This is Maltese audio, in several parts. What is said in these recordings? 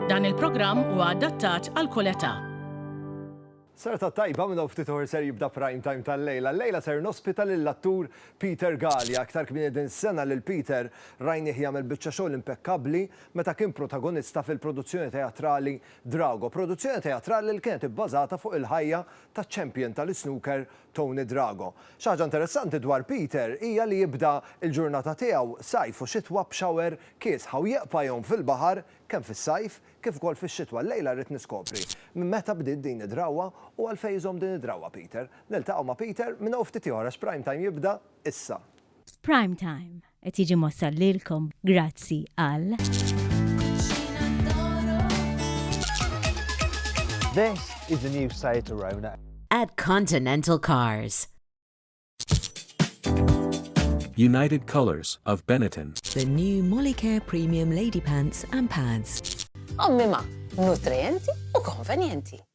Dan il-programm huwa adattat għal kull età. Serata tajba minn ftit uħor ser jibda prime time tal-lejla. Lejla ser nospita lill-attur Peter Galea. Aktar kmieni din is-sena lil Peter rajnieh jagħmel biċċa xogħol impekkabbli meta kien protagonista fil-produzzjoni teatrali Drago, produzzjoni teatrali li kienet ibbażata fuq il-ħajja taċ-champion tal-isnooker Tony Drago. Xi ħaġa interessanti dwar Peter hija li jibda l-ġurnata tiegħu, sajf u xitwa b'shower kiesħa u jeqpa' jgħum fil-baħar kemm fis-sajf kif ukoll fix-xitwa. Llejla rrid niskopri minn meta bdiet din id-drawwa u għalfejn iżomm din id-drawwa Peter. Niltaqgħu ma' Peter minn hawn ftit ieħor għax Prime Time jibda issa. Prime Time. Qed jiġi mwassal lilkom grazzi għal. This is the new Seat Arona. At Continental Cars. United Colors of Benetton. The new Molicare Premium Lady Pants and Pads. Ommi ma, nutrienti u konvenjenti.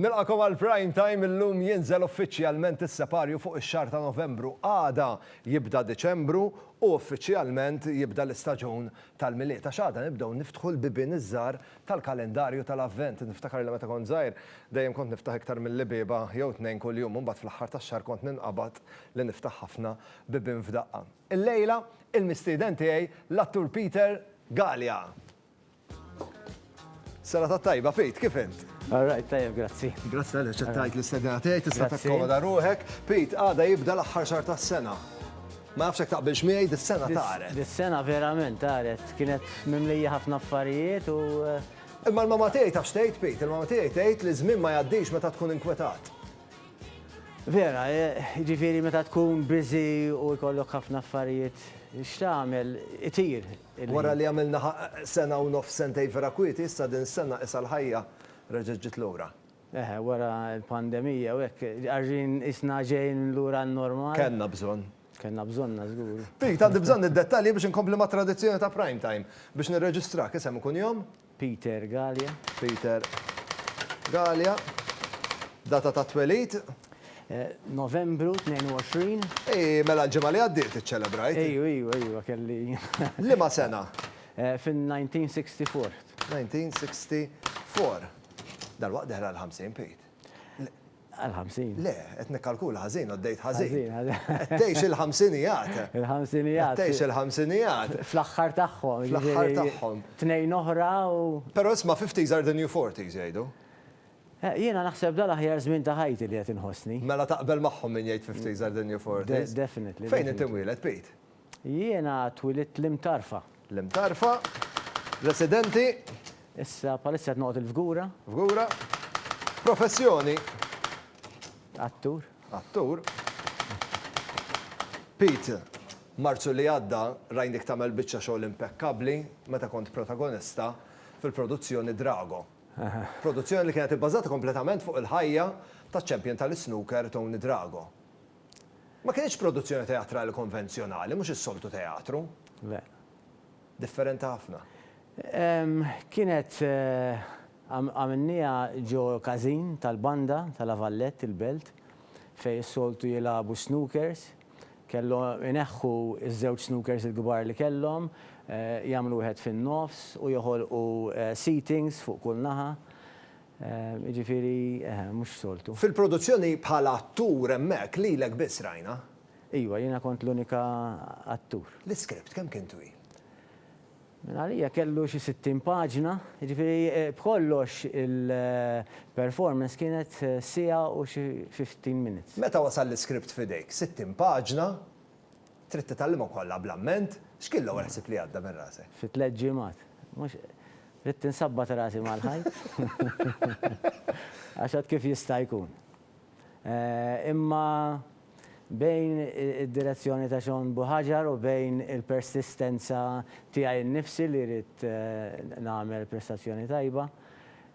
Nilqakom għal Prime Time illum jinżel uffiċjalment is-separju fuq ix-xahar ta' Novembru, għada jibda Diċembru u uffiċjalment jibda l-istaġun tal-Milied għax għada nibdew niftħu l-bibien iż-żgħar tal-kalendarju tal-Avvent. Niftakar li meta kont żgħir dejjem kont niftaħ iktar milli bieba jew tnejn kuljum u mbagħad fl-aħħar tax-xahar kont ninqabad li niftaħ ħafna bibien f'daqqa. Illejla, il-mistieden tiegħi l-attur Peter Galea. Serata t-tajba, Pete, kif int? All right, tajjeb, grazzi. Grazzi għalli ċettajt l-istedina tiegħi, tista' takkomoda ruħek. Pete, għada jibda l-aħħar xar tas-sena. Ma nafx hekk taqbilx miegħi, dis-sena taret. Dis-sena verament taret, kienet mimlija ħafna affarijiet u. Eh, Imma l-mama tiegħi taf xtejt, Pete, il-mama tiegħi tgħid li żmien ma jgħaddix meta tkun inkwetat. Vera, eh, ġifieri meta tkun biżi u jkollok ħafna affarijiet x'tagħmel itir, Wara li għamilna sena u nofs sentejn vera kwieti, issa din is-sena qisha l-ħajja reġgħet ġiet lura. Eħe, wara l-pandemija u hekk, għarrien qisna ġejjin lura għan-normal. Kellna bżonn. Kellna bżonnha żgur. Pete, għandi bżonn id-dettalji biex inkompli mat-tradizzjoni ta' Prime Time. Biex nirreġistrak, isem u kunjom? Peter Galea. Peter Galea. Data tat-twelid? Novembru 22. Ii, mela l-ġimgħa li għaddiet iċċelebrajt. Ejju, ejju, ejju, għa kelli. Liema sena? Fin-1964. 1964. Dalwaqt dehra l-50, Pete. Għal 50. Le, qed nikkalkula ħażin, għaddejt ħażin. Ħażin, ħażin. Qed tgħix il-ħamsinijat. Il-ħamsinijat. Qed tgħix il-ħamsinijat. Fl-aħħar tagħhom. Fl-aħħar tagħhom. Tnejn oħra u. Però isma' fifties are the new forties jgħidu. Jiena naħseb dan l-aħjar żmien ta' ħajti li qed inħossni. Mela taqbel magħhom min jgħid fifties are the new forties? Definitely. Fejn inti mwieled, Pete? Jiena twilidt l-Imtarfa. L-Imtarfa, residenti. Issa bħalissa qed noqgħod il-Fgura. Fgura. Professjoni? Attur. Attur. Pete, Marzu li għadda rajnik tagħmel biċċa xogħol impekkabbli meta kont protagonista fil-produzzjoni Drago. Produzzjoni li kienet ibbażata kompletament fuq il-ħajja taċ-champion tal-isnooker Tony Drago. Ma kinitx produzzjoni teatrali konvenzjonali, mhux is-soltu teatru. Le. Differenti ħafna. Kienet għamilnieha ġo każin tal-banda ta' La Vallette, il-Belt, fejn is-soltu jilagħbu s-snookers. Kellhom ineħħu ż-żewġ snookers il-kbar li kellhom, jagħmlu wieħed fin-nofs u joħolqu seatings fuq kull naħa. Jiġifieri eħe, mhux soltu. Fil-produzzjoni bħala attur hemmhekk lilek biss rajna. Iwa, jiena kont l-unika attur. L-iskript kemm kien twil? Minn għalija kellu xi sittin paġna, jiġifieri b'kollox il-performance kienet siegħa u xi fifteen minutes. Meta wasal l-iskript f'idejk? Sittin paġna? Trid titgħallimhom kollha bl-amment? X'kien l-ewwel ħsieb li għadda minn rasek? Fi tliet ġimgħat? Mhux. Ridt insabbat rasi mal-ħajt. Għax għad kif jista' jkun. Imma bejn id-direzzjoni ta' Shawn Buhagiar u bejn il-persistenza tiegħi nnifsi li ridt nagħmel prestazzjoni tajba,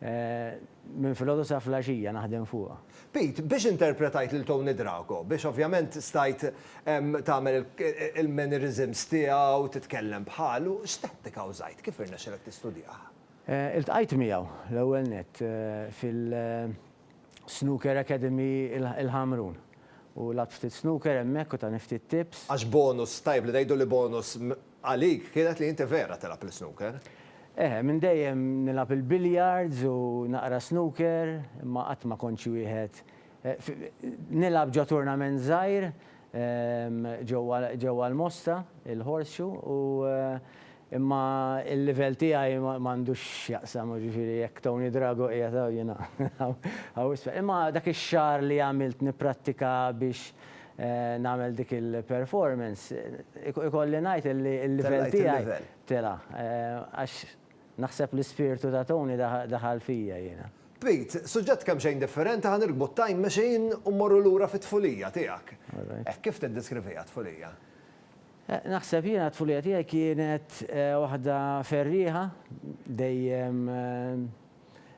Minn filgħodu sa flaxija naħdem fuqha. Pete, biex interpretajt lil Tony Drago, biex ovvjament stajt tagħmel il-mannerisms tiegħu, titkellem bħalu, x'tattika użajt? Kif irnexxilek tistudjah? Iltqajt miegħu, l-ewwel nett, fil-Snooker Academy il-Ħamrun. U lgħabt ftit snooker hemmhekk u tani ftit tips. Għax bonus, tajjeb li ngħidu li bonus Għalik kienet li inti vera tilgħab l-isnooker? Eħe, minn dejjem nilgħab il-billiards u naqra snooker, imma qatt ma kont xi wieħed Nilgħab ġo turnament żgħir ġewwa ġewwa l-Mosta, il-Horseshoe, u imma l-livell tiegħi m'għandux x'jaqsam, jiġifieri jekk Tony Drago qiegħed hawn jiena hawn hawn isfel. Imma dak ix-xahar li għamilt nipprattika biex nagħmel dik il-performance, ikolli ngħid illi l-livell tiegħi tela'. Għax naħseb l-ispirtu ta' Tony daħal fija jiena. Pete, suġġett kemxejn differenti ħa nirkbu t-time machine u mmorru lura fit-tfulija tiegħek. Hekk kif tiddeskriviha t-tfulija? Naħseb jiena t-tfulija tiegħi kienet waħda ferrieħa, dejjem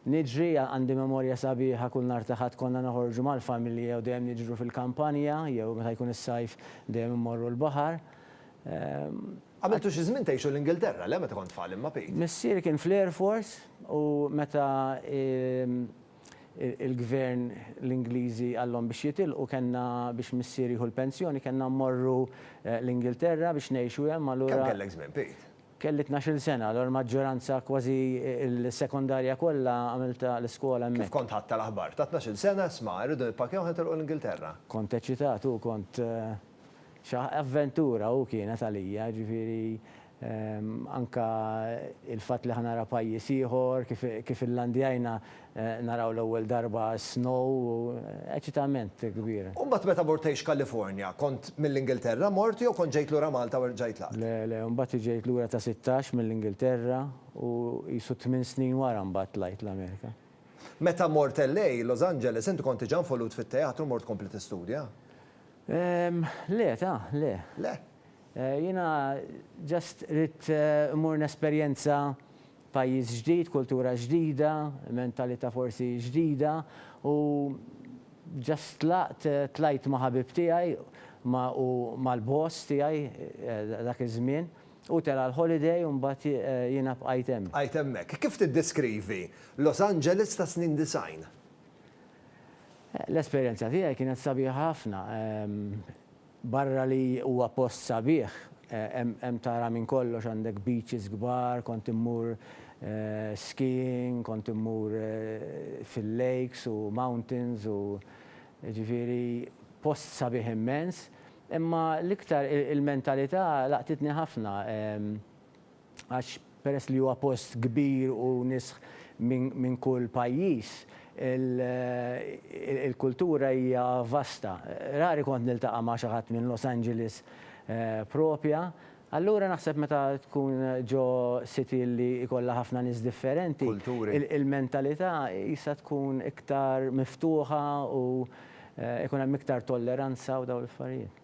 Niġri, għandi memorja sabiħa kull nhar ta' Ħadd konna noħorġu mal-familja u dejjem niġru fil-kampanja jew meta jkun is-sajf dejjem immorru l-baħar. Għamiltu xi żmien tgħixu l-Ingilterra, le meta kont tfal imma Pete? Missieri kien fl-Air Force u meta l-gvern l-Ingliżi qalhom biex jitilqu kellna biex missieri jieħu l-pensjoni kellna mmorru l-Ingilterra biex ngħixu hemm allura. Kemm kellek żmien Pete? Kelli tnax-il sena, allura l-maġġoranza, kważi l-sekondarja kollha għamiltha l-iskola hemmhekk. Kif kont ħadt tal-aħbar? Ta' tnax-il sena, isma', irridu nippakjaw ħa nitilqu l-Ingilterra. Kont eċitat u kont xi avventura u kienet għalija, jiġifieri anke l-fatt li ħa nara pajjiż ieħor, kif illandjajna Naraw l-ewwel darba s-snow, eċitament kbir. U mbagħad meta mort tgħix Kalifornja, kont mill-Ingilterra mort jew kont ġejt lura Malta u rġajt laqt? Le, le, mbagħad ġejt lura ta' sittax mill-Ingilterra u qisu tmien snin wara mbagħad tlajt l-Amerika. Meta mort LA, Los Angeles, inti kont diġà involut fit-teatru mort tkompli tistudja? Le, ta', le. Le? Jiena just ridt immur nesperjenza Pajjiż ġdid, kultura ġdida, mentalità forsi ġdida u just tlaqt, tlajt ma' ħabib tiegħi ma' u mal-boss tiegħi dak iż-żmien. Hu tela' l-holiday u mbagħad jiena bqajt hemm. Bqajt hemmhekk. Kif tiddeskrivi Los Angeles tas-snin disgħin? L-esperjenza tiegħi kienet sabiħa ħafna. Barra li huwa post sabiħ, hemm tara minn kollox, għandek beaches kbar, kont immur skiing, kont immur fil-lakes u mountains u jiġifieri post sabiħ immens. Imma l-iktar il-mentalità laqtitni ħafna, għax peress li huwa post kbir u nisħ minn kull pajjiż, il-kultura hija vasta. Rari kont niltaqa' ma' xi ħadd minn Los Angeles proprja. Allura naħseb meta tkun ġo city li jkollha ħafna nies differenti, il-mentalità qisha tkun iktar miftuħa u jkun hemm iktar tolleranza u dawn l-affarijiet.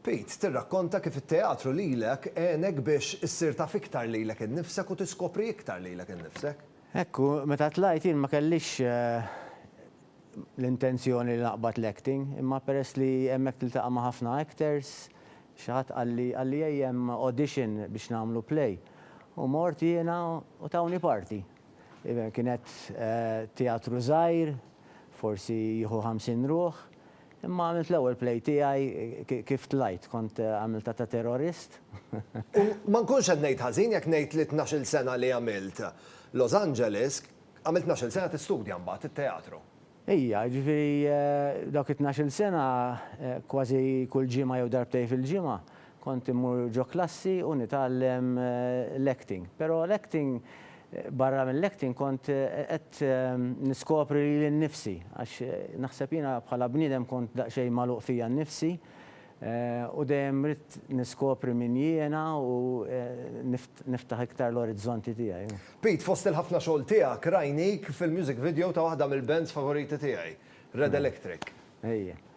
Pete, tirrakkonta kif it-teatru lilek għenek biex issir taf iktar lilek innifsek u tiskopri iktar lilek innifsek. Hekk hu, meta tlajt jien ma kellix l-intenzjoni li naqbad l-acting, imma peress li hemmhekk tiltaqa' ma' ħafna actors, xi ħadd qalli, qalli ej hemm audition biex nagħmlu play. U mort jiena u tawni parti. Kienet teatru żgħir, forsi jieħu 50 ruħ. Imma għamilt l-ewwel play tiegħi kif tlajt, kont għamiltha ta' terrorist. U ma nkunx qed ngħid ħażin jekk ngħid li t-tnax-il sena li għamilt Los Angeles, għamilt tnax-il sena tistudja mbagħad it-teatru. Ija, jiġifieri dawk it-tnax-il sena kważi kull ġimgħa jew darbtejn fil-ġimgħa Kont immur ġo klassi u nitgħallem l-acting. Però l-acting, barra mill-acting kont qed niskopri lili nnifsi għax naħseb jiena bħala bniedem kont daqsxejn magħluq fija nnifsi u dejjem ridt niskopri min jiena u niftaħ iktar l-orizzonti tiegħi. Pete, fost il-ħafna xogħol tiegħek rajnik fil-music video ta' waħda mill-bands favoriti tiegħi, Red Electric. Ejja.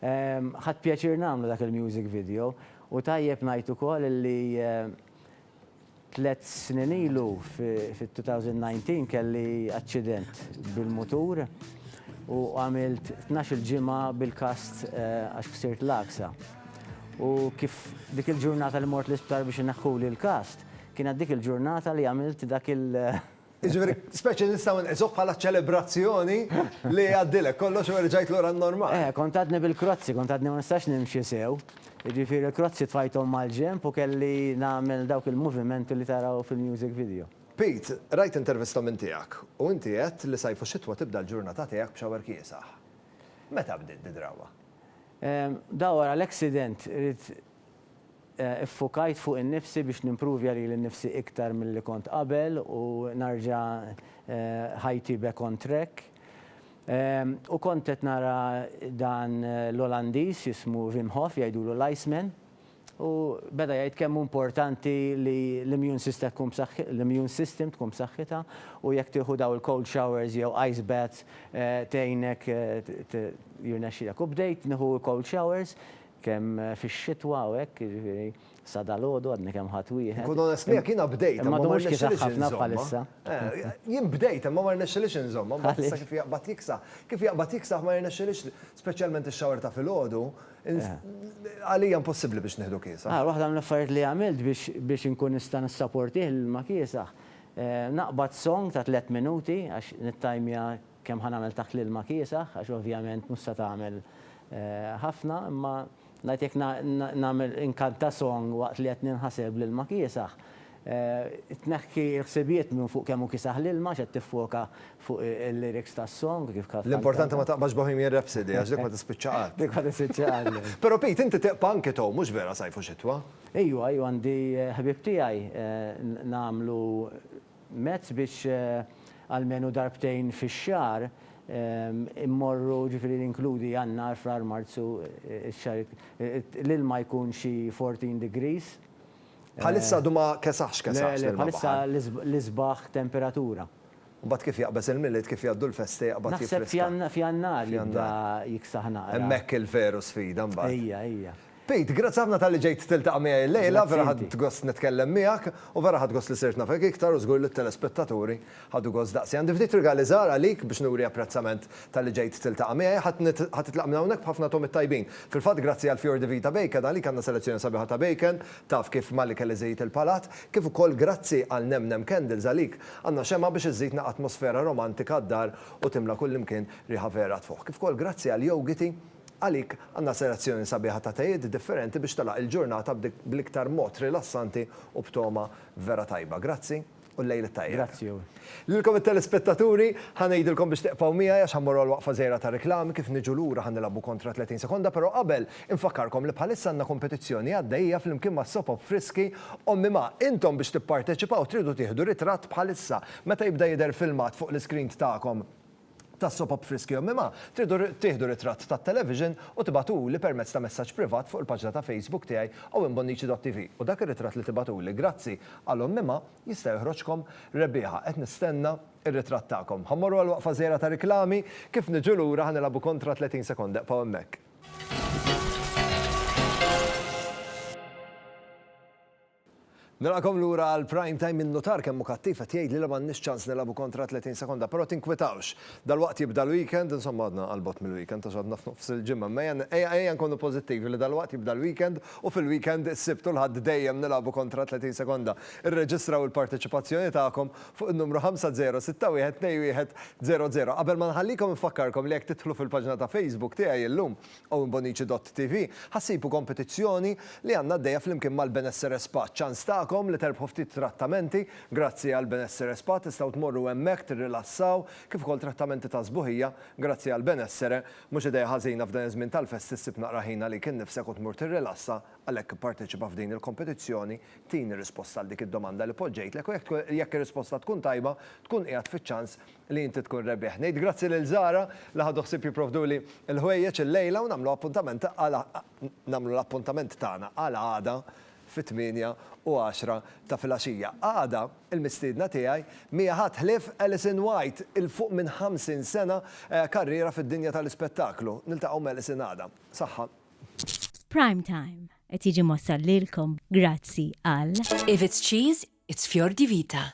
Ħadt pjaċir nagħmlu dak il-music video u tajjeb ngħid ukoll li tliet snin ilu fit-2019 kelli aċċident bil-mutur u għamilt tnax-il ġimgħa bil-kast għax ksirt l-għaksa. U kif dik il-ġurnata li mort l-isptar biex ineħħuli l-kast, kienet dik il-ġurnata li għamilt dak il-music Jiġifieri, speċi nistgħu nqisuh bħala ċelebrazzjoni li għaddilek kollox u erġajt lura n-normal. Eh, kont għadni bil-krozzi, kont għadni ma nistax nimxi sew. Jiġifieri l-krozzi tfajthom mal-ġenb u kelli nagħmel dawk il-movimenti li taraw fil-music video. Pete, rajt intervista minn tiegħek u inti għedt li sajf u xitwa tibda l-ġurnata tiegħek b'xawer kiesaħ. Meta bdiet di drawwa? Ehm, dawwar għal accident, irrid Iffukajt fuq innifsi biex nimpruvja lili nnifsi iktar milli kont qabel u narġa' ħajti back on track. U kont qed nara dan l-Olandiż jismu Wim Hof, jgħidulu l-Iceman, u beda jgħid kemm hu importanti li l-immune sista tkun b'saħħi, l-immune system tkun b'saħħitha u jekk tieħu dawn il-cold showers jew ice baths tgħinek, jirnexxilek. U bdejt nieħu l-cold showers. Kemm fix-xitwa u hekk, jiġifieri sa dalgħodu għadni kemm ħadt wieħed. Inkun onest miegħek, jiena bdejt imma ma rnexxilix inżommha. Jien bdejt imma ma rnexxilix inżommha, mbagħad issa kif jaqbad jiksaħ. Kif jaqbad jiksaħ ma jirnexxilix, speċjalment ix-shower ta' filgħodu, għalija impossibbli biex nieħdu kiesaħ. Waħda mill-affarijiet li għamilt biex inkun nista' nissaportih l-ilma kiesaħ, naqbad song ta' tliet minuti għax nittajmja Kemm ħa nagħmel taħt l-ilma kiesaħ għax ovvjament mhux se tagħmel ħafna imma ngħid jekk nagħmel inkanta song waqt li qed ninħaseb l-ilma kiesaħ tneħħi l-ħsibijiet minn fuq kemm hu kiesaħ l-ilma għax qed tiffoka fuq il-lyrics tas-song kif kantata. L-importanti ma taqbadx Bohemian Rhapsody għax dik ma tispiċċa qatt. Dik ma tispiċċa qatt le. Però Pete inti teqpa' anki tow mhux vera sajf u xitwa? Ejwa ejwa għandi ħbieb tiegħi nagħmlu mezz biex almenu darbtejn fix-xahar immorru, ġifieri li jinkludi Jannar, Frar, Marzu, ix-xahriet l-ilma jkun xi fourteen degrees. Bħalissa għadu ma kesaħx kesaħx l-ilma. Le, le, bħalissa l-isbaħ temperatura. U mbagħad kif jaqbeż il-Milied, kif jgħaddu l-festi jaqbad jifriska. Naħseb f'Jannar jibda jiksaħ naqra. Hemmhekk il-veru sfida mbagħad. Ejja, ejja. Pete, grazzi ħafna talli ġejt tiltaqa' miegħi llejla, vera ħadt gost nitkellem miegħek u vera ħadt gost li sirt nafek iktar u żgur li t-telespettaturi ħadu gost daqsi. Għandi ftit rigali żgħar għalik biex nuri apprezzament talli ġejt tiltaqa' miegħi. Ħa titlaq minn hawnhekk b'ħafna togħmiet tajbin. Fil-fatt grazzi għal Fior di Vita Bacon għalik għandna selezzjoni sabiħa ta' bacon, taf kif malli kelli żejjed il-palat, kif ukoll grazzi għal Nem Nem Candles għalik għandna xemgħa biex iżżidna atmosfera romantika d-dar u timla kullimkien riħa vera tfuħ. Kif ukoll grazzi għal Yogiti, Għalik għandna selezzjoni sabiħa ta' tejiet differenti biex telaq il-ġurnata bl-iktar mod rilassanti u b'togħma vera tajba. Grazzi u l-lejl it-tajjeb. Grazzi u. Lilkom it-telespettaturi, ħa ngħidilkom biex tiqfgħu miegħi għax ħa mmorru għal waqfa żgħira ta' riklami, kif niġu lura ħa nilgħabu kontra 30 sekonda però qabel infakkarkom li bħalissa għandna kompetizzjoni għaddejja flimkien ma' Sopop Friski Ommi Ma intom biex tipparteċipaw tridu tieħdu ritratt bħalissa meta jibda jidher filmat fuq l-iscreen tagħkom tas-soap op Friski u Mimha, tridu tieħdu ritratt tat-television u tibagħtuli permezz ta' messaġġ privat fuq il-paġna ta' Facebook tiegħi owenbonnici.tv u dak ir-ritratt li tibagħtuli grazzi għal Omm Mimha jista' joħroġkom rebbieħa. Qed nistenna r-ritratt tagħkom. Ħa mmorru għal waqfa żgħira ta' riklami, kif niġu lura ħa nilagħbu kontra 30 sekonda ibqgħu hemmhekk. Nilqakom lura għal Prime Time in-nutar kemm hu kattiv qed jgħidli li m'għandniex ċans nilagħbu kontra 30 sekonda però tinkwitawx. Dalwaqt jibda l-weekend, insomma għadna għal bogħod mill-weekend għax għadna f'nofs il-ġimgħa imma ejja ejja nkunu pożittivi li dalwaqt jibda l-weekend u fil-weekend is-Sibt u l-Ħadd dejjem nilagħbu kontra 30 sekonda. Irreġistraw il-parteċipazzjoni tagħkom fuq in-numru 50612100. Qabel ma nħallikom infakkarkom li jekk tidħlu fil-paġna ta' Facebook tiegħi illum Owen Bonnici Dott TV, Ħa ssibu kompetizzjoni li għandna għaddejja flimkien mal-Benessere Spa. Ċans tagħkom li terbħu ftit trattamenti. Grazzi għal Benessere Spa tistgħu tmorru hemmhekk tirrilassaw kif ukoll trattamenti ta' sbuħija. Grazzi għal Benessere. Mhux idea ħażina f'dan iż-żmien tal-festi ssib naqra ħin għalik innifsek u tmur tirrilassa. Għalhekk ipparteċipa f'din il-kompetizzjoni. Tini risposta għal dik id-domanda li poġġejtlek u jekk jekk ir-risposta tkun tajba tkun qiegħed fiċ-ċans li inti tkun rebbieħ. Ngħid grazzi lil Zara li ħadu ħsieb jipprovduli l-ħwejjeġ illejla u nagħmlu appuntament għal nagħmlu l-appuntament tagħna għal għada fit-tmienja u għaxra ta' filgħaxija. Għada, il-mistiedna tiegħi m'hija ħadd ħlief Alison White, 'il fuq minn 50 sena karriera fid-dinja tal-ispettaklu. Niltaqgħu m'Alison għada. Saħħa. Prime Time qed jiġi mwassal lilkom grazzi għal. If it's cheese, it's fjor di vita.